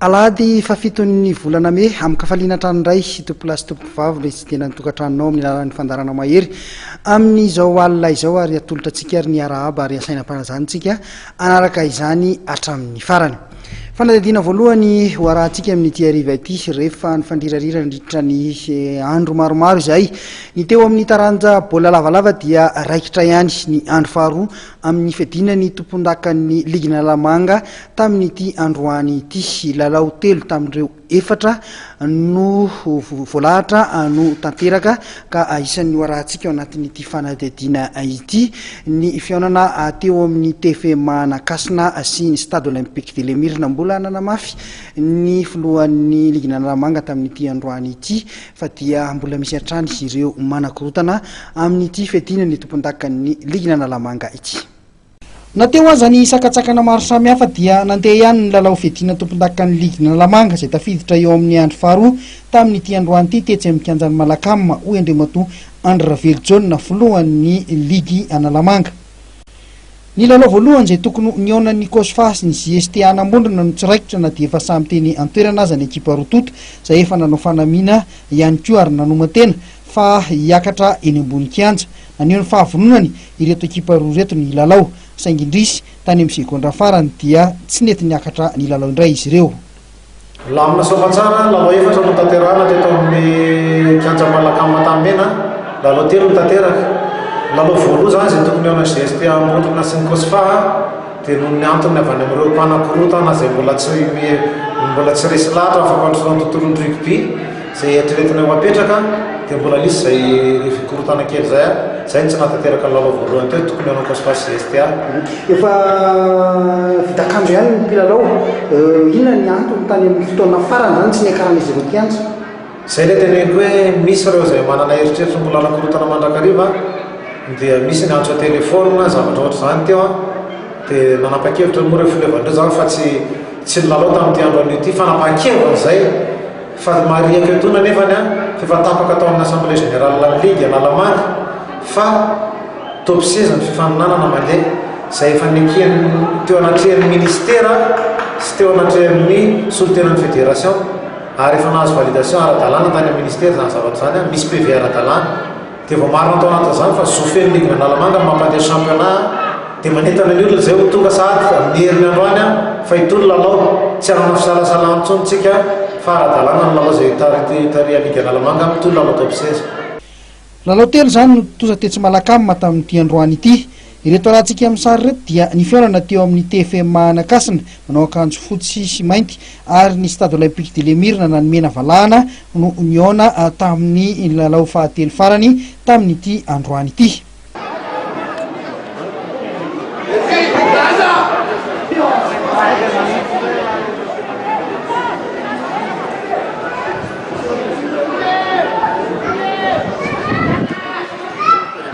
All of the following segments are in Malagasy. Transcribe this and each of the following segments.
Alahady fahafiton'ny volana mey, amin-kafaliana trano iray, tompolahy sy tompokovavy no hitsidihana ny tokantranonao amin'ny alalan'ny fandaharana mahery amin'izao alina izao ary atolotra antsika ary ny arahaba ary asaina am-panajantsika hanaraka izany hatramin'ny farany. Fanadihadiana voalohany ho arahantsika amin'ity hariva ity, rehefa nifandrirarira nandritra ny andro maromaro izahay, ny teo amin'ny taranja baolina lavalava dia raikitra ihany ny andro faharoa, amin'ny fiadiana ny tompondakan'ny ligin'Analamanga tamin'ity androany ity. Lalao telo tamin'ireo efatra no voalahatra no tanteraka ka isan'ny hoarahantsika ao anatin'ity fanadihadiana ity ny fihaonana teo amin'ny TFM Anakasina sy ny Stade Olympique de l'Emir. Nambola nanamafy ny filohan'ny ligin'Analamanga tamin'ity androany ity fa dia mbola misy hatrany ireo manakorontana amin'ity fiadiana ny tompondakan'ny ligina Analamanga ity. Na teo aza ny sakantsakana maro samihafa dia nandeha ihany ny lalao fiadiana tompondakan'ny ligina Analamanga izay tafiditra eo amin'ny andro faharoa tamin'ity androany ity tetsy amin'ny kianjan'i Malacam, hoy Andriamatoa Andry Ravelijaona, filohan'ny ligy Analamanga. Ny lalao voalohany izay tokony ho nihaonan'ny Cosfa sy ny JST Hanamondrona no tsy raikitra na dia efa samy teny an-toerana aza ny ekipa roa tonta izay efa nanao fanamiana ihany koa ary nanoma-tena fa hiakatra eny ambony kianja. Naneho ny fahavononany ireto ekipa roa ireto ny hilalao saingy indrisy tany amin'ny segondra farany dia tsy nety niakatra nilalao indray izy ireo. Lamina sy famantsara, lalao efatra no tanterahana teto amin'ny kianja Malacam Antanimena, lalao telo no tanteraka. Lalao voaloha izany izay tokony eo amin'ny GSP Ambondrona sy ny Cosfa dia noho ny antony avy any amin'ireo mpanakorontana izay mbola tsy mbola tsy resy lahatra amin'ny fampandrosoana ny tontolon'ny rugby, Zay eritreretina ho apetraka dia mbola nisy zay le fikorontana kely zay a, zay no tsy nahatanteraka ny lalao voalohany teo, tokony hanao coach face sy STA. Efa vita akanjo ihany ny mpilalao, inona ny antony tany amin'ny fotoana farany zany tsy niakaran'izy ireo kianja? Zay le teneniko hoe misy ireo zay manana eritreritry ny mbola hanakorotana mandrakariva dia misy ny antso an-telephone na zavatra ohatr'izany teo a, dia nanapa-kevitra moa ireo fileovan'ireo zany fa tsy tsy nilalao tamin'ity andro anio ity, fanapahan-keviny zay. Fa ry Maria Keotona anefany an, fa efa tapaka tao amin'ny Assemblée Générale ny Ligue Analamanga fa toby seza ny fifaninanana mandeha, izay efa nekeny teo anatrehan'ny Ministera sy teo anatrehan'ny solontenan'ny Fédération ary efa nahazo validation ara-dalàna tany amin'ny Ministera izany zavatra izany an, misy PV ara-dalàna. Dia vao marina tao anatin'izany fa zo feno ligny Analamanga ny mampandeha championnat dia manentana ny olona izay ho tonga sahady amin'ny heriny androany fa hitohy ny lalao. Tsy hanana fisalasalana intsony isika fa ara-dalàna ny lalao izay taritin'ny ligy Analamanga ary mitohy ny lalao top seize. Lalao telo izany no tontosa tetsy Malacama tamin'ity androany ity. Ireto alahantsika amin'ny sary ireto dia ny fihaonana teo amin'ny TFMA Anakasina, manao akanjo fotsy sy mainty, ary ny Stade Olympique de l'Emirna na ny Mena Valahana no nihaona tamin'ny lalao fahatelo farany tamin'ity androany ity.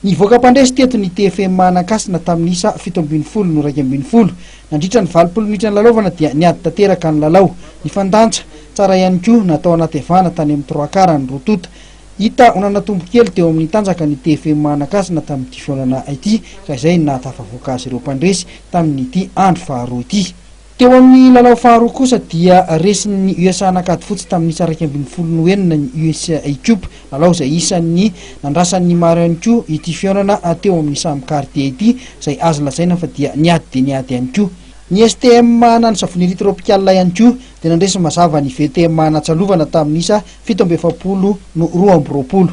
Nivoaka mpandresy teto ny TFM Anankasina tamin'ny isa fito ambin'ny folo no iraika ambin'ny folo. Nandritra ny valopolo minitra nilalaovana dia niady tanteraka ny lalao. Nifandanja tsara ihany koa na tao anaty avana tany amin'ny trois quart ny roa tonta. Hita ho nanatombo kely teo amin'ny tanjaka ny TFM Anankasina tamin'ity fihaonana ity ka izay no nahatafavoaka azy ireo mpandresy tamin'ity andro faharoa ity. Teo amin'ny lalao faharoa kosa dia resin'ny USA nankady fotsy tamin'ny iraika ambin'ny folo no enina ny USA Cup, lalao izay isan'ny nandrasany ny maro ihany koa ity fihaonana teo amin'ny samy gardien ity izay azo lazaina fa dia niady dia niady ihany koa. Ny STM na ny Savonnerie Tropicale ihany koa dia nandresy mazava ny VTM natsalovana tamin'ny isa fito amby efapolo no roa amby roapolo.